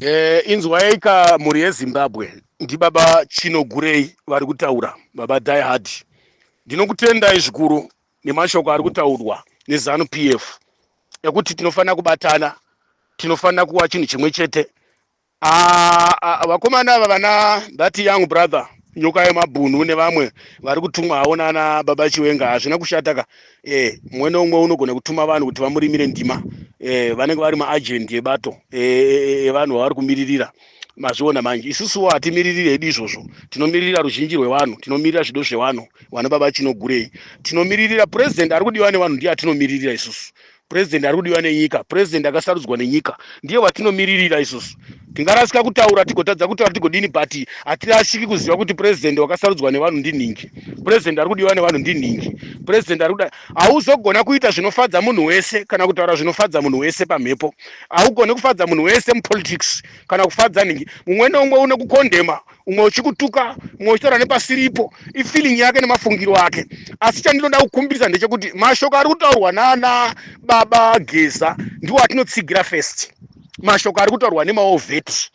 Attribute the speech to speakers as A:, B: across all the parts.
A: Eh, inzwaika mhuri yezimbabwe ndibaba chinogurei vari kutaura baba diehard ndinokutendai zvikuru nemashoko ari kutaurwa nezanu p f ekuti tinofanira kubatana tinofanira kuva chinhu chimwe chete ah, ah, vakomana ava vana that young brother nyoka yemabhunu nevamwe vari kutumwa havo nana baba chiwenga hazvina kushataka eh, mumwe neumwe unogona kutuma vanhu kuti vamurimire ndima eh, vanenge vari maagendi ebato eh, eh, evanhu eh, vavari kumiririra mazviona manje isusuwo hatimiririri hedu izvozvo tinomiririra ruzhinji rwevanhu tinomirira zvido zvevanhu vana baba chinogurei tinomiririra purezidendi ari kudiwa nevanhu ndiye atinomiririra isusu purezidendi ari kudiwa nenyika purezidendi akasarudzwa nenyika ndiye watinimiririra isusu tingarasika kutaura tigotadza kutaura tigodini but hatirashiki kuziva kuti purezidendi wakasarudzwa nevanhu ndinhingi purezidendi ari kudiwa nevanhu ndinhingi purezidendi ari kuda hauzogona kuita zvinofadza munhu wese kana kutaura zvinofadza munhu wese pamhepo haugone kufadza munhu wese mupolitics kana kufadza nhingi mumwe neumwe une kukondema umwe uchikutuka umwe uchitaura nepasiripo ifeeling yake nemafungiro ake asi chandinoda kukumbirisa ndechekuti mashoko ari kutaurwa nana baba geza ndiwo atinotsigira first mashoko ari kutaurwa nemaovheti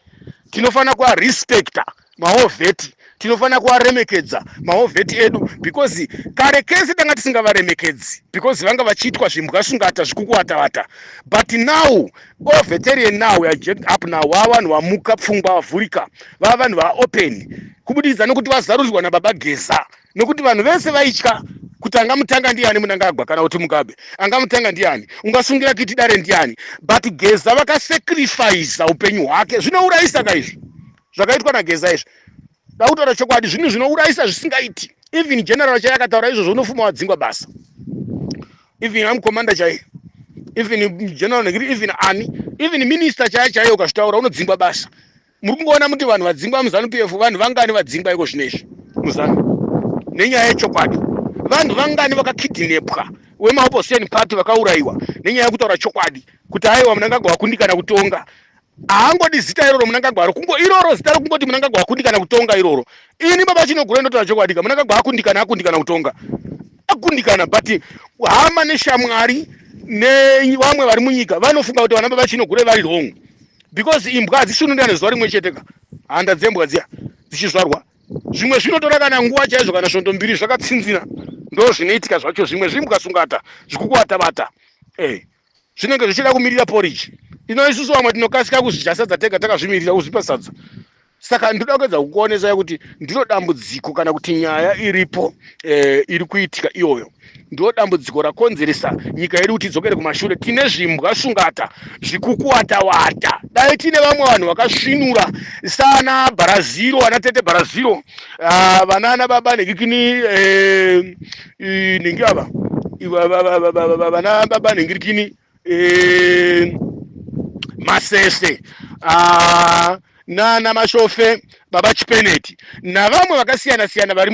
A: tinofanira kuarespecta maovheti tinofanira kuvaremekedza maovheti edu because kare kese tanga tisingavaremekedzi because vanga vachiitwa zvimbwa sungata zvikukuvatavata but now all veteran now we are jacked up now vava vanhu vamuka pfungwa vavhurika vava vanhu vaopen kubudikidza nokuti vazarurirwa nababa geza nokuti vanhu vese vaitya kuti angamutanga ndiani munangagwa kana kuti mugabe angamutanga ndiani ungasungira kiti dare ndiani but geza vakasacrifice upenyu hwake zvinourayisa ka izvi zvakaitwa nageza izvi Ndakutaura chokwadi zvinhu zvinourayisa zvisingaiti. Even general chaiye akataura izvozvo unofuma wadzingwa basa. Even am commander chaiye. Even general negiri even ani. Even minister chaiye chaiye ukazvitaura unodzingwa basa. Muri kungoona muti vanhu vadzingwa muzanu PF vanhu vangani vadzingwa iko zvinezvi muzanu. Nenyaya yechokwadi. Vanhu vangani vakakidinepwa wemaopposition party vakauraiwa nenyaya yekutaura chokwadi kuti aiwa munangagwa wakundikana kutonga haangodi zita iroro munangagwa ro kungo iroro zita ro kungoti munangagwa akundikana kutonga iroro ini baba chinogura ndotaura chokwadika munangagwa akundikana akundikana kutonga akundikana but hama neshamwari nevamwe vari munyika vanofunga kuti vana baba chinogura vari wrong because imbwa hadzishunurana zuva rimwe chete ka handa dzembwa dziya dzichizvarwa zvimwe zvinotora kana nguva chaizvo kana svondo mbiri zvakatsinzina ndo zvinoitika zvacho zvimwe zvimbwa sungata zvikukuvatabata e eh, zvinenge zvichida kumirira porridge ino isusu vamwe tinokasika kuzvidya sadza tega takazvimirira kuzvipa sadza saka ndinoda kuedza kukuonesai kuti ndiro dambudziko kana kuti nyaya iripo eh, iri kuitika iyoyo ndiro dambudziko rakonzeresa nyika yedu kuti idzokere kumashure tine zvimbwa shungata zvikukuwatawata dai tine vamwe vanhu vakasvinura sana bharaziro vana tete bharaziro ah, vana ana baba nekikini eh, eh, nenge ava vana baba nhingirikini eh, masese ah, nana mashofe baba chipeneti navamwe vakasiyana siyana vari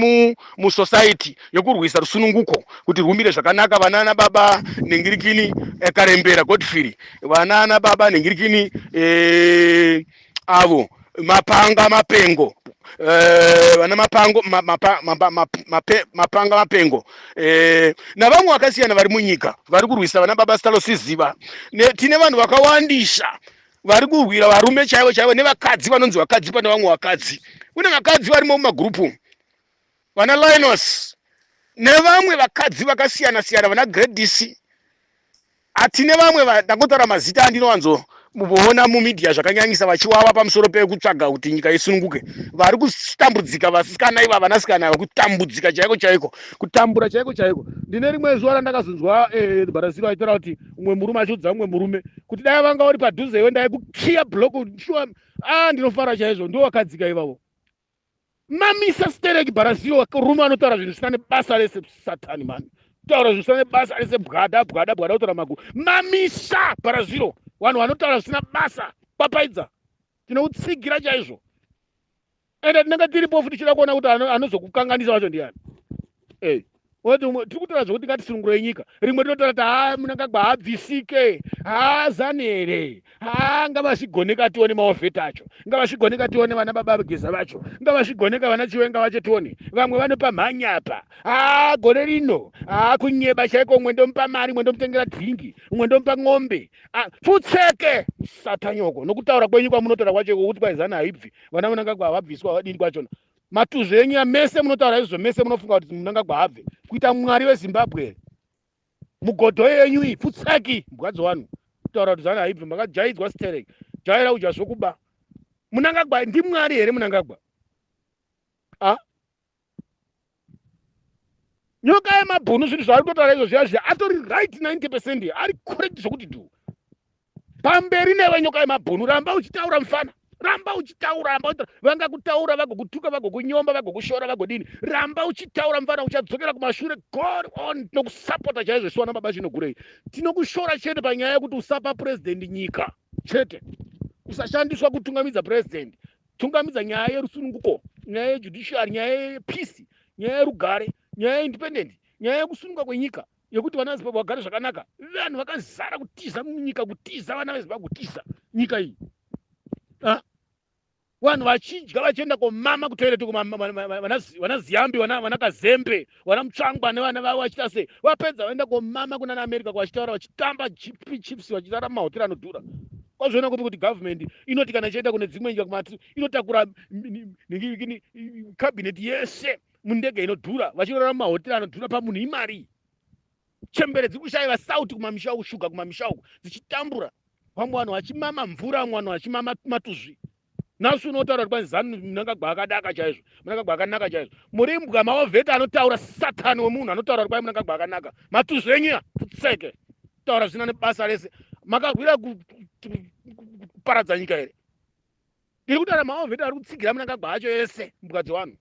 A: musosaiti yokurwisa rusununguko kuti rwumire zvakanaka vanana baba nhingirikini eh, karembera godfrey vanana baba nhingirikini eh, avo mapanga mapengo eh, vana mapango ma, mapa, mapa, map- mape, mapanga mapengo eh, navamwe vakasiyana vari munyika vari kurwisa vana baba sitalosiziva ne, tine vanhu vakawandisa vari kurwira varume chaivo chaivo nevakadzi vanonzi vakadzi pane vamwe vakadzi kune vakadzi varimo mumagurupu vana linos nevamwe vakadzi vakasiyana siyana vana gradisi A Tine vamwe ndangotaura mazita andinowanzo voona mumedia zvakanyanyisa vachiwawa pamusoro pekutsvaga kuti nyika isununguke vari kutambudzika vasikana iva vanasikana ava kutambudzika chaiko chaiko kutambura chaiko chaiko ndine rimwe zuva randakazonzwa eh, barasiro aitaura kuti umwe murume achiudza umwe murume kuti dai vanga uri padhuze iwe ndaikukiya block shuwa a ah, ndinofara chaizvo ndo wakadzika ivavo mamisa stereki bharazio rume anotaura zvinhu zvisina nebasa rese satani mani kutaura zvinhu zvisina nebasa rese bwada bwada bwada kutaura maguru mamisa bharaziro vanhu vanotaura zvisina basa papaidza tinoutsigira chaizvo ende tinenge tiripofu tichida kuona kuti anozokukanganisa vacho ndiani ey tiri kutaura zvekuti ngatisunungurei nyika rimwe rinotaura ti haa munangagwa haabvisike haa zani here haa ngavazvigoneka tione maovheti acho ngavazvigoneka tione vana baba vageza vacho ngavazvigoneka vana chiwenga vacho tione vamwe vanopa mhanya apa haa gore rino haa kunyeba chaiko umwe ndomupa mari umwe ndomutengera dhingi umwe ndomupa ng'ombe pfutseke satanyoko nokutaura kwenyu kwamunotaura kwacho kokuti kwaizani haibvi vana munangagwa havabviswa havadini kwachona matuzvi enyu mese munotaura izvozvo mese munofunga kuti munangagwa habve kuita mwari wezimbabwe here mugodho yenyu iyi pfutsaki mbwadzo wanu kutaura kuti zana haibvi makajaidzwa sterek jaira udya zvokuba munangagwa ndimwari here munangagwa a nyoka yemabhunu zvinhu zvaari kutotaura izvo zviya zviya atori right 90 percent ari correct zvokuti du pamberi newe nyoka yemabhunu ramba uchitaura mfana ramba uchitaura ramba uchitaura vangakutaura vagokutuka vagokunyomba vagokushora vagodini ramba uchitaura mfana uchadzokera kumashure god on tinokusapota chaizvo siwana baba chinogurei tinokushora chete panyaya yekuti usapa purezidendi nyika chete usashandiswa kutungamidza purezidendi tungamidza nyaya yerusununguko nyaya yejudiciary nyaya yepeace nyaya yerugare nyaya yeindependent nyaya yekusununga kwenyika yekuti vana vezimbabwe vagare zvakanaka vanhu vakazara kutiza munyika kutiza vana vezimbabwe kutiza nyika iyi ah? vanhu vachidya vachienda komama kutoireti vana ziyambi vana kazembe vana mutsvangwa nevana vavo vachiita sei vapedza vaenda komama kunana america kwavachitaura vachitamba gp chips vachitara mahotera anodhura kwazviona kupi kuti government inoti kana ichaenda kune dzimwe nyika kumati inotakura cabinet yese mundege inodhura vachirora mahotera anodhura pamunhu imari chembere dziri kushaiva sauti kumamisha uku shuga kumamisha uku dzichitambura vamwe vanhu vachimama mvura vamwe vanhu vachimama matuzvi nhasi unotaura kuti kwanzi zanu munangagwa akadaka chaizvo munangagwa akanaka chaizvo muri mbwa maovheta anotaura satani wemunhu anotaura kuti kwai munangagwa akanaka matuzvenyia futseke taura zvina nebasa rese makahwira kuparadza nyika here ndiri kutaura maovheta ari kutsigira munangagwa acho ese mbwa dzevanhu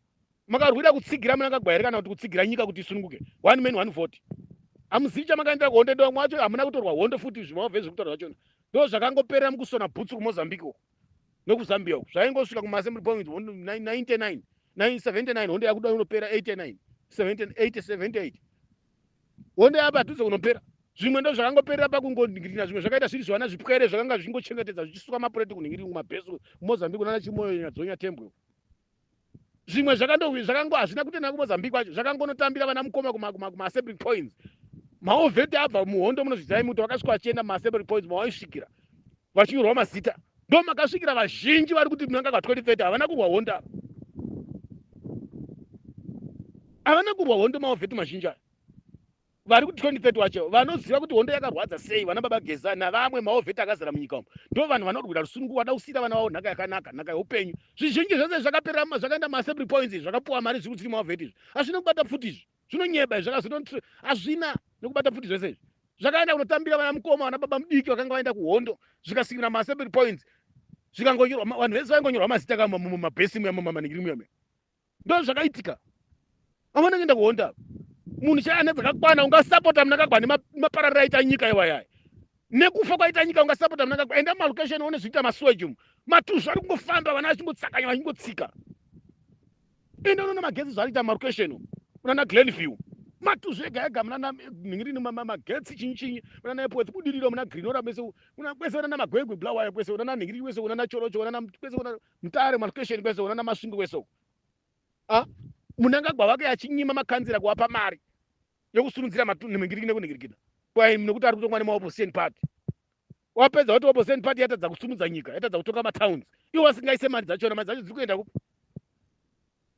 A: makarwira kutsigira munangagwa here kana kuti kutsigira nyika kuti isununguke one man one vote hamuzivi chamakaendera kuhondo ndomwacho hamuna kutorwa hondo futi zvimaovhe zviri kutaura zvachona ndo zvakangoperera mukusona bhutsu kumozambique uko nekuzambia uku zvaingosvika kumaassembly point 99 979 honde yakuda unopera 89 78 honde yapadhuze kunopera zvimwe ndo zvakangoperera pakungonhingirina zvimwe zvakaita zviri zvivana zvipwere zvakanga zvichingochengetedza zvichisuka mapureti kunhingiringu mabhesi mozambique nana chimoyo nyadzonya tembwe zvimwe zvakango hazvina kutenda kumozambique kwacho zvakangonotambira vana mukoma kumaassemblic points maovheti abva muhondo munozvizirai muti vakasvika vachienda mumaassemblic points mavaisvikira vachinyorwa mazita ndo makasvikira vazhinji vari kuti munanga ka 2030 havana kurwa hondo ava havana kurwa hondo maovheti mazhinji aya vari kuti 2030 wacho vanoziva kuti hondo yakarwadza sei vana baba geza navamwe maovheti akazara munyika umu ndo vanhu vanorwira rusunungu vada kusiira vana vavo nhaka yakanaka nhaka yeupenyu zvizhinji zvese zvakaperera zvakaenda maassembly points izvi zvakapuwa mari zviri kutsiri maovheti izvi hazvina kubata pfuti izvi zvinonyeba izvi zvakazoto hazvina nekubata pfuti zvese izvi zvakaenda kunotambira vana mukoma vana baba mudiki vakanga vaenda kuhondo zvikasikira maassembly points zvikangonyorwa vanhu vese vaingonyorwa mazita kamumabhesi muya mumamaningiri muya muya ndozvakaitika amana ngenda kuhonda munhu chaiye ane dzakakwana ungasapota munakagwa nemapararira aita nyika iwayaya nekufa kwaita nyika ungasapota munakagwa enda mumalocation one zviita masweji umu matuzvi ari kungofamba vana vachingotsakanya vachingotsika enda unoona magetsi zvaariita mumalocation umu unana glen view matuzvi ega ega munana nhingirini magetsi chinyi chinyi munana epwetsi budiriro muna grinora mese kwese unana magwegwe blawaya kwese unana nhingirini kwese unana chorocho unana kwese unana Mutare malokesheni kwese uko nana Masvingo kwese uko. Ah, Munangagwa vake achinyima makanzira kuwapa mari yokusurudzira matunhu nemingiriki nekunhingirikita kwaimi nokuti ari kutongwa nemaopposition party. Wapedza kuti opposition party yatadza kusumudza nyika, yatadza kutonga matowns. Iwo wasingaise mari dzachona, mari dzacho dziri kuenda kupi?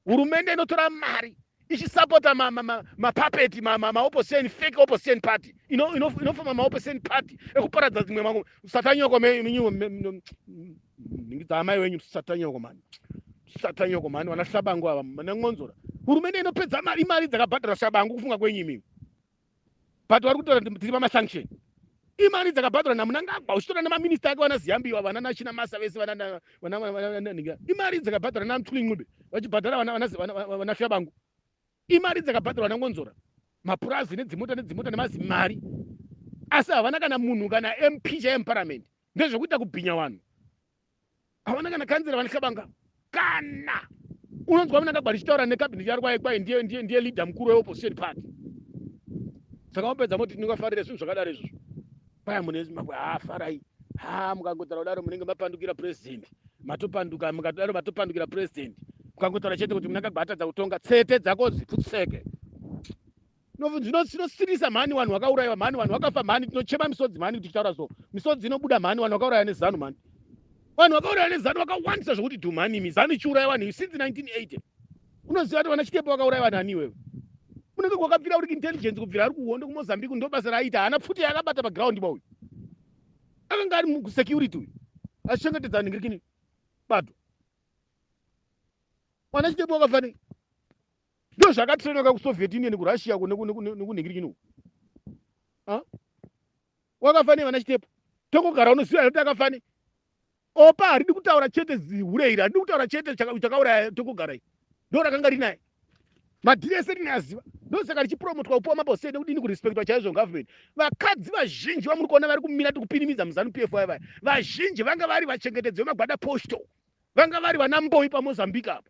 A: hurumende inotora mari ichisapota mapapeti ma, ma, ma, maopposition fake opposition party inofoma ino, ino, ino maopposition party ekuparadza dzimwe mangu satanyoko menyuwo ndingidza amai wenyu satanyoko mani satanyoko mani vana shabangu ava manan'onzora hurumende inopedza mari mari dzakabhadhara shabangu kufunga kwenyu imimi but vari kutaura kuti tiri pamasanction imari dzakabhadharwa namunangagwa uchitora nemaminista ake vana ziyambiwa vana nachina masa vese vananhinga imari dzakabhadharwa namtwlingube vachibhadhara vana fyabangu imari dzakabhadharwa nangonzora mapurazi nedzimota nedzimota nemazimari asi havana kana munhu kana mp chaiye muparamende ndezvekuita kubhinya vanhu havana kana kanzira vane kabanga kana unonzwa vana kagwari chitaura nekabineti yari kwaye kwaye ndiye ndiye ndiye leader mukuru weopposition party saka wapedza moti tinongafarira zvinhu zvakadaro izvozvo kwaya mune zimbabwe haa farai haa mukangotaura kudaro munenge mapandukira president matopanduka mukatodaro matopandukira president mukangotaura chete kuti muna kagwatadza kutonga tsete dzako dziputseke zvinosiririsa mhani vanhu vakaurayiwa mhani vanhu vakafa mhani tinochema misodzi mhani kuti tichitaura so misodzi inobuda mhani vanhu vakauraya nezanu mhani vanhu vakauraya nezanu vakawandisa zvokuti dhu mhani imi zanu ichiuraya vanhu iyi since 1980 unoziva kuti vana chitepo vakauraya vanhu ani iwewe unenge kwakabvira uri kuintelligence kubvira ari kuhondo kumozambique ndo basa raaita haana pfuti yaakabata paground ba uyu akanga ari musecurity uyu achichengetedza ningirikini bato mwana chitepo wakafanei Ndo zvaka trainwa ka ku Soviet Union ku Russia ku neku neku neku negirikini uku. Ah? Wakafa ne vana chitepo. Tongo gara unoziva kuti akafa ne. Opa haridi kutaura chete zihure iri, haridi kutaura chete chakauraya tongo gara iri. Ndo rakanga rinaye. Madhiri ese rine aziva. Ndo saka richipromotwa kupuwa mabose nekudini kurespectwa chaizvo government. Vakadzi vazhinji vamuri kuona vari kumira tikupinimidza muzanu PF vaya vaya. Vazhinji vanga vari vachengetedzi vemagwada postal. Vanga vari vana mboyi pa Mozambique apa.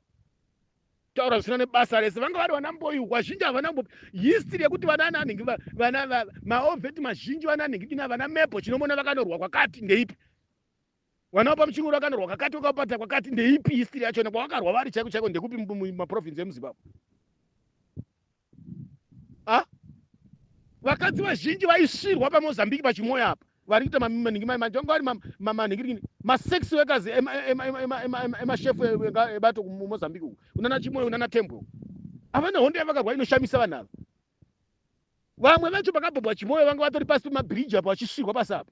A: taura zvisina nebasa rese vanga vari vana mboyu vazhinji havana kumbo history yekuti vana ananhingi vana maoveti mazhinji vana anhingi dina vana mepo chinomona vakanorwa kwakati ndeipi vana vapa muchingoro vakanorwa kakati vakapata kwakati ndeipi history yachona kwavakarwa vari chaiko chaiko ndekupi maprovince emuzimbabwe ah, vakadzi vazhinji vaisvirwa pamozambique pachimoya apa vari kuita manhingi manje vanga vari manhingirikini masex wekazi emashefu ebato kumozambique uku unana chimoyo unana tembwe uku havana hondo yavakarwa inoshamisa vanhu ava vamwe vacho pakabhabwa chimoyo vanga vatori pasi pemabhiriji apa vachisvirwa pasi apa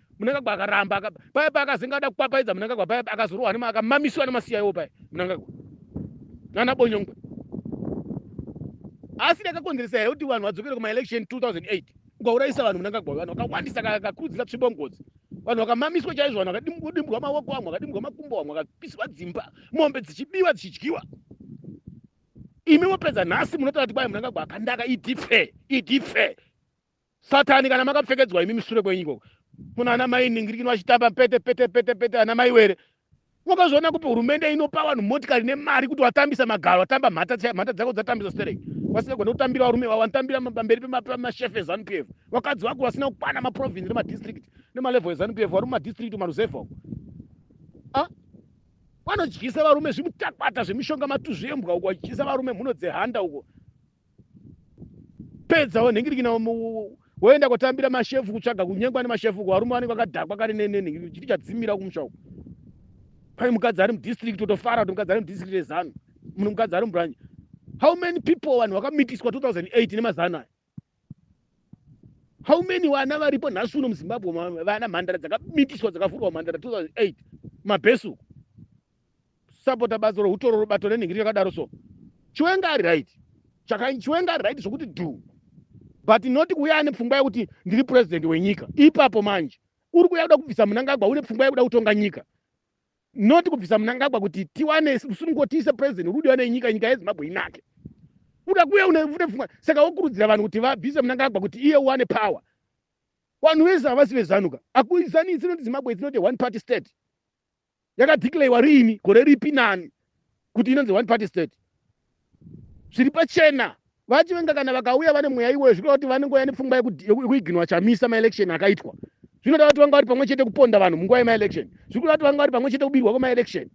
A: munangagwa akaramba aka, paya paya akazenga ada kupapaidza munangagwa paya akazorohwa nema akamamiswa nemasiyaiwo paya munangagwa nana bonyongwe asi ndakakonzeresa here kuti vanhu vadzokere kumaelection 2008 ukaurayisa vanhu munangagwa vanhu vakawandisa kakurudzira tsvimbo ngozi vanhu vakamamiswa chaizvo vanhu vakadimbwa maoko vamwe vakadimbwa makumbo vamwe vakapiswa dzimba mombe dzichibiwa dzichidyiwa imi mopedza nhasi munotaura kuti kwai munangagwa akandaka idife idife satani kana makapfekedzwa imi misure kwenyu ikoko kuna ana mai ningirikino vachitamba pete pete pete pete ana mai were wakazviona kupi hurumende inopa vanhu motikari nemari kuti watambisa magaro watamba mhata chaiyo mhata dzako dzatambisa sterek vasingagona kutambira varume vavo vanotambira pamberi pemashefe ezanu p f vakadzi vako vasina kukwana maprovince nemadistrict nemalevel ezanu p f vari mumadistrict maruzevha uko ah? vanodyisa varume zvimutakwata zvemishonga matuzvi embwa uko vachidyisa varume mhuno dzehanda uko pedza wonhingirikina woenda kotambira mashefu kutsvaga kunyengwa nemashefu ko varume vanenge vakadhakwa kare nenhingirikina chiti chadzimira kumusha uku pane mukadzi ari mudistrict totofara kuti mukadzi ari mudistrict rezanu mune mukadzi ari mubranch how many people vanhu vakamitiswa 2008 nemazano aya how many vana varipo nhasi uno muzimbabwe vana mhandara dzakamitiswa dzakavhurwa mhandara 2008 mabhesu kusapota bazi rohutororo bato renhingiri yakadaro so chiwenga ari right chakaini chiwenga ari right zvokuti dhu but not kuuya ane pfungwa yekuti ndiri purezidhendi wenyika ipapo manje uri kuuya kuda kubvisa munangagwa une pfungwa yekuda kutonga nyika not kubvisa munangagwa kuti tiwane rusunungo tiise purezidhendi uri kudiwa nenyika nyika yezimbabwe inake uda kuuya une pfungwa saka wokurudzira vanhu kuti vabvise munangagwa kuti iye uwane power vanhu vese havasi vezanuka akuizanisi noti zimbabwe it's not a one party state yakadeclarewa riini gore ripi nani kuti inonzi one party state zviri pachena vachivenga kana vakauya vane mweya iwoyo zvirikuda kuti vanenge vaya nepfungwa yekuiginwa chamisa maelection akaitwa zvinoda kuti vanga vari pamwe chete kuponda vanhu munguva yemaelection zvirikuda kuti vanga vari pamwe chete kubirwa kwemaelection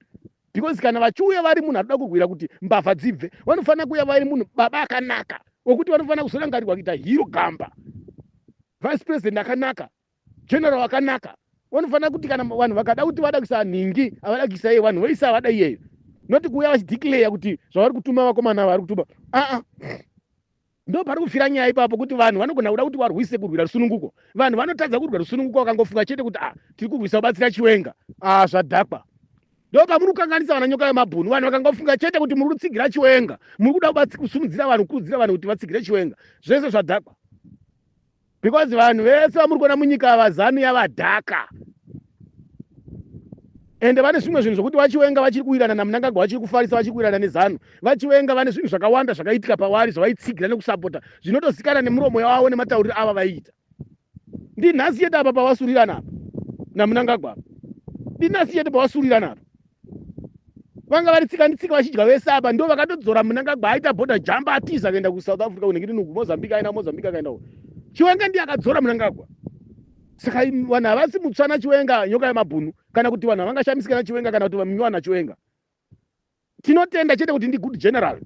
A: because kana vachiuya vari munhu arikuda kurwira kuti mbavha dzibve vanofanira kuuya vari munhu baba akanaka wekuti vanofanira kuzorangarirwa kuita hiro gamba vice president akanaka General wakanaka wanofanira kuti kana vanhu vakada kuti vada kuisa nhingi avada kuisa iye vanhu voisa avada iyeyo noti kuuya vachideclare kuti zvavari kutuma vakomana vari kutuma aa ndo pari kufira nyaya ipapo kuti vanhu vanogona kuda kuti varwise kurwira rusununguko vanhu vanotadza kurwira rusununguko vakangofunga chete kuti a ah, tiri kurwisa kubatsira chiwenga a ah, zvadhakwa ndo pamuri kukanganisa vana nyoka yemabhunu vanhu vakangofunga chete kuti muri kutsigira chiwenga muri kuda kusumudzira vanhu kukurudzira vanhu kuti vatsigire chiwenga zvese zvadhakwa because vanhu vese vamuri kuona munyika ava zanu yavadhaka ende vane zvimwe zvinhu zvokuti vachiwenga vachiri kuwirana namunangagwa vachiri kufarisa vachiri kuwirana nezanu vachiwenga vane zvinhu zvakawanda zvakaitika pavari zvavaitsigira nekusapota zvinotozikana nemuromo yavavo nematauriro ava vaiita ndinhasi yete apa pavasurirana apa namunangagwa apa ndinhasi yete pavasurirana apa vanga vari tsika nditsika vachidya vese apa ndo vakatodzora munangagwa aita border jump atiza akaenda kusouth africa kunenge tinuku mozambique aina mozambique akaenda ku chiwenga ndiye akadzora munangagwa saka vanhu havasi mutsvana chiwenga nyoka yemabhunu kana kuti vanhu havangashamisika nachiwenga kana kuti vaminywa nachiwenga tinotenda chete kuti ndi good general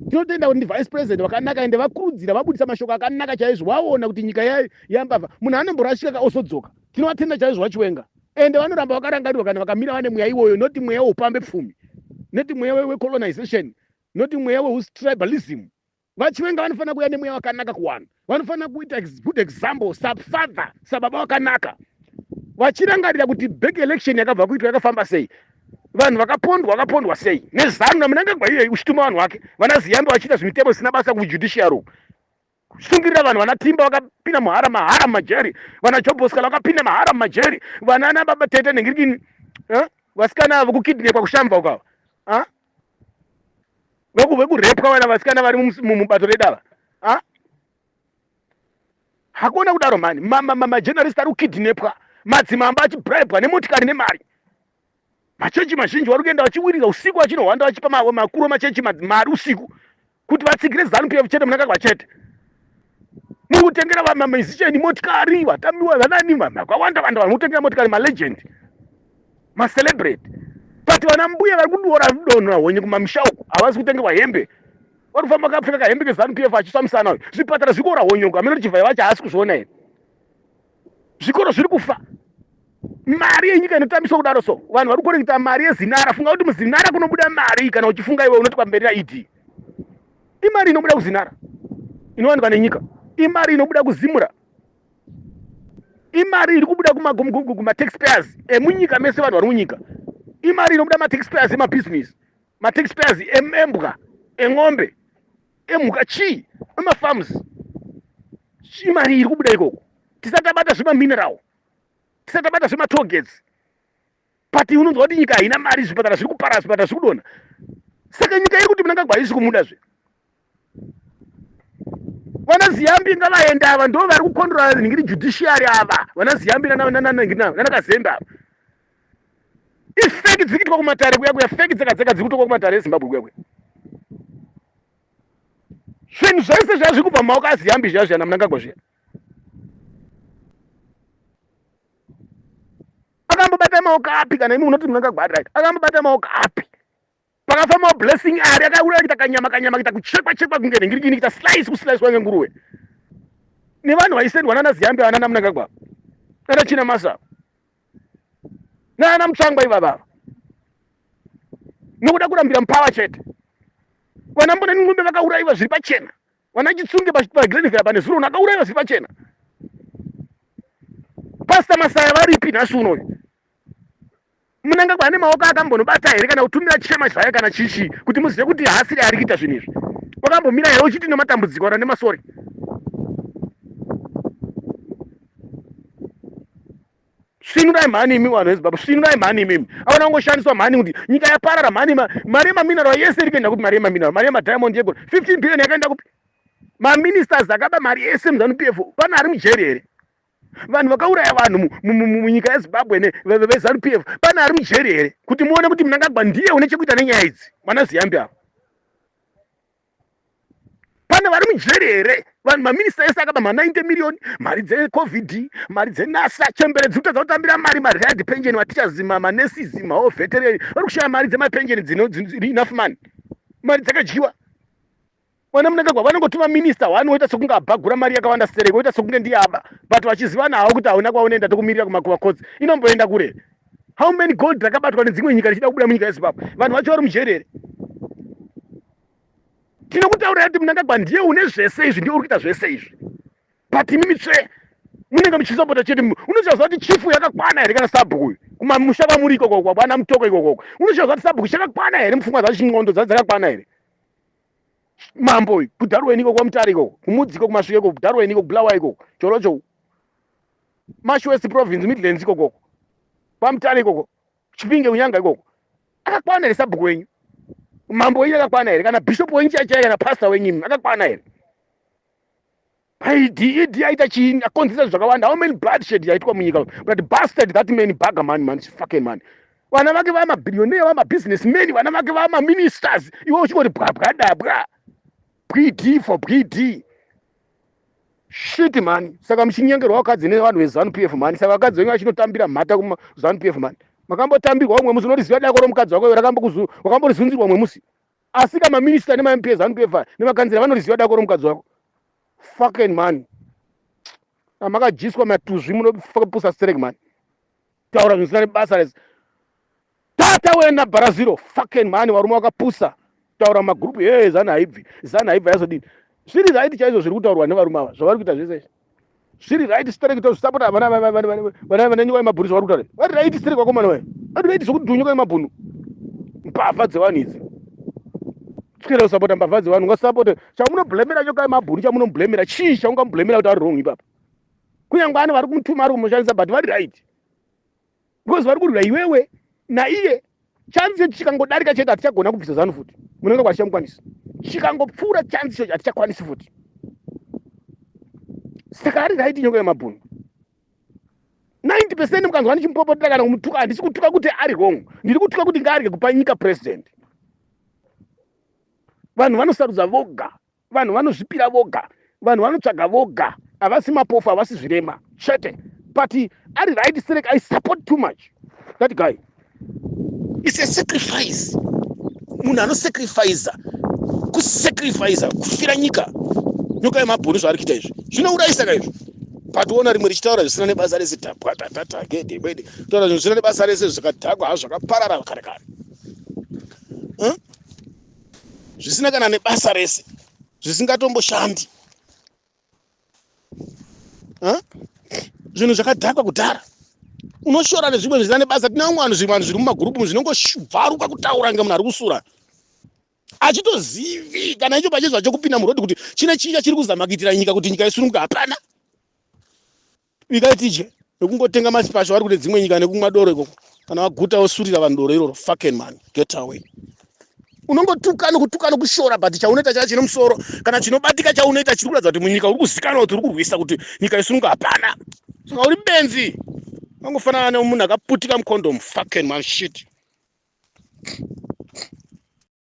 A: tinotenda kuti ndi vice president vakanaka ende vakurudzira vabudisa mashoko akanaka chaizvo vaona kuti nyika yambavha munhu anomborashika ka osodzoka tinovatenda chaizvo vachiwenga ende vanoramba vakarangarirwa kana vakamira vane mweya iwoyo noti mweya weupambe pfumi noti mweya wecolonization noti mweya weustribalism vachiwenga vanofanira kuuya nemweya wakanaka kuwana vanofanira kuita good example safather sababa wakanaka vachirangarira kuti back election yakabva kuitwa yakafamba sei vanhu vakapondwa vakapondwa sei nezanu namunangagwa iyoyi uchituma vanhu vake vana ziyambe vachiita zvimitemo zvisina basa kujudiciary kushingirira vanhu vana timba vakapinda muhara mahara mumajeri vana joboskala vakapinda mahara mumajeri vana ana baba tete nengirikini eh? vasikana avo kukidnepwa kushamva ukava ah? vekurepwa vana vasikana vari mubato redava ah? hakuna kudaro mani majenarist ari kukidnepwa madzimamba achibribwa nemotikari nemari machechi mazhinji vari kuenda vachiwiringa usiku vachinohwanda vachipa makuru emachechi mari usiku kuti vatsigire zanu pf chete munakagwa chete mukutengera vamamizisheni motikari vatamiwa vanani vakawanda vanda vanhu kutengera motikari malegend macelebrate but vana mbuya vari kuduora donho ahonye kumamisha uku havasi kutengerwa hembe vari kufamba kapfeka kahembe kezanu pf achisvamisana uyu zvipatara zvikuora honye uku amene tichivhaya vacho haasi kuzviona here zvikoro zviri kufa mari yenyika inotambiswa kudaro so vanhu vari kukoreketa mari yezinara funga kuti muzinara kunobuda mari kana uchifunga iwe unoti pamberi naed imari inobuda kuzinara inowanikwa nenyika imari inobuda kuzimura imari iri kubuda kumataxpayers emunyika mese vanhu vari munyika imari inobuda mataxpayers emabusiness mataxpayers embwa en'ombe emhuka chii emafarms chii mari iri kubuda ikoko tisatabata zvemamineral tisatabata zvematogets but unonzwa kuti nyika haina mari zvipatara zviri kupara zvipatara zviri kudona saka nyika iri kuti munangagwa haisi kumuda zve vana ziyambi ngavaenda ava ndo vari kukondora nhingiri judiciary ava vana ziyambi nanakazembe ava ifeki dziri kuitwa kumatare kuya kuya feki dzega dzega dziri kutokwa kumatare ezimbabwe kuya kuya zvinhu zvese zviya zviri kubva mumaoko aziyambi zviya zviya namunangagwa zviya akambobata maoko api kana imi munoti munangagwa akai akambobata maoko api pakafamba blessing ari akauraya kuita kanyama kanyama kuita kuchekwa chekwa kunge nhingirikini kuita slice kuslice wange nguruwe nevanhu vaisendwa nana ziyambe vana namunangagwa nana china masa nana mutsvangwa ivavava nokuda kurambira mupava chete vana mbona ningombe vakaurayiwa zviri pachena vana chitsunge pagrenvera pane zuro nakaurayiwa zviri pachena pasta masaya varipi nhasi unoyu munangagwa ane maoko akambonobata here kana kutumira chema zvaye kana chichi kuti muzive kuti haasiri ari kuita zvinhu izvi wakambomira here uchiti nematambudziko kana nemasori svinurai mhani imi vanhu vezimbabwe svinurai mhani imimi avana kungoshandiswa mhani kuti nyika yaparara mhani mari yemaminarwa yese iri kuenda kupi mari yemaminarwa mari yemadiamond yegoro 15 billion yakaenda kupi maministers akaba mari yese muzanu p f pana ari mujeri here vanhu vakauraya vanhu munyika yezimbabwe nevezanu p f pane ari mujeri here kuti muone kuti munangagwa ndiye une chekuita nenyaya idzi vana ziyambi avo pane vari mujeri here vanhu maminista ese akaba ma90 miriyoni mari dzecovid mari dzenasa chembere dziri kutadza kutambira mari mariad penjeni matichazima manesizi mawo vetereni vari kushaya mari dzemapenjeni dzinoenough mani mari dzakadyiwa mwana munangagwa vanongoti maminista wani woita sekunge abhagura mari yakawanda sere woita sekunge ndiye aba but vachizivana hawo kuti hauna kwaunoenda tokumirira kumakuva kotsi inomboenda kure how many gold rakabatwa nedzimwe nyika richida kubuda munyika yezimbabwe vanhu vacho vari mujeri here tinokutaurira kuti munangagwa ndiye une zvese izvi ndiye uri kuita zvese izvi but imi mitsve munenge muchisapota chete unochaziva kuti chifu yakakwana here kana sabhuku uyu kumamusha kwamuri ikokoko kwana mutoko ikokoko unochaziva kuti sabhuku chakakwana here mupfungwa dzacho ndxondo dzaa dzakakwana here mambo uyu kudharweni ikoko kwamutare ikoko kumudzi ikoko kumasvike ikoko kudharweni ikoko bulawa ikoko chorocho mashwest province midlands ikoko kwamutare ikoko chipinge kunyanga ikoko akakwana here sabhuku wenyu mambo wenyu akakwana here kana bishop wenyu chaichai kana pastor wenyu akakwana here Paid ED yaita chini akonzeresa zvakawanda how many bloodshed yaitwa munyika but bastard that man baga man man fucking man vana vake vama billionaire vama business men vana vake vama ministers iwe uchingoti bwabwa dabwa bwidi for bwidi shit mani saka muchinyengerwa vakadzi nevanhu vezanu p f mani saka vakadzi venyu vachinotambira mhata kumazanu p f mani makambotambirwa umwe musi unoriziva dako romukadzi wako rakamborizunzirwa umwe musi Asika ma minister nema MPs zanu pevha nema kanzira vanoriziva dako romukadzi wako. Fucking man. Amakajiswa matuzvi munopusa sterek man. Taura zvisina nebasa rese. Tata wena baraziro fucking man warume wakapusa. Taura magroup hey zanu haibvi. Zanu haibva yazodini. Zviri right chaizvo zviri kutaurwa nevarume ava. Zvavari kuita zvese. zviri right sterek tozvisapota vana vananyuka nemabhurisa vari kutaura vari right sterek vakomana vaye vari right zvekudhunyuka nemabhunu mbavha dzevanhu idzi tikenda kusapota mbavha dzevanhu ungasapote chamunoblemera nyoka yemabhunu chamunoblemera chii chaungamublemera kuti ari wrong ipapa kunyange ani vari kumutuma ari kumushandisa but vari right because vari kurwira iwewe naiye chanzi chechi chikangodarika chete hatichagona kubvisa zanu futi munenge kwachamukwanisa chikangopfuura chanzi chechi hatichakwanisi futi saka ari raiti nyoka yemabhunu 90 percent mukanzwa ndichimupopotera kana kumutuka handisi kutuka kuti ari wrong ndiri kutuka kuti ngaarye kupa nyika president vanhu vanosarudza voga vanhu vanozvipira voga vanhu vanotsvaga voga havasi mapofu havasi zvirema chete but ari right sterek i support too much that guy is a sacrifice munhu anosacrifiza kusacrifiza kufira nyika nyoka yemabhoni zvaari kuita izvi zvinourayisa ka izvi but ona rimwe richitaura zvisina nebasa rese tapwa tatata gede kwede taura zvisina nebasa rese zvakadhakwa hazvo zvakaparara kare kare zvisina kana nebasa rese zvisingatomboshandi zvinhu zvakadhakwa kudhara unoshora nezvimwe zvisina nebasa tine vamwe vanhu zvimwe vanhu zviri mumagurupu zvinongobvaruka kutaura nge munhu ari kusura achitozivi kana icho pachezvacho kupinda murodhi kuti chine chinga chiri kuzama kuitira nyika kuti nyika isununguka hapana Bikai tidye nekungotenga masipasha vari kune dzimwe nyika nekumwa doro ikoko kana waguta wosurira vanhu doro iroro fucking man get away unongotuka nokutuka nokushora but chaunoita chaya chine musoro kana chinobatika chaunoita chiri kuratidza kuti munyika uri kuzikanwa kuti uri kurwisa kuti nyika yesununga hapana saka uri benzi angofanana nemunhu akaputika mucondom fucking man shit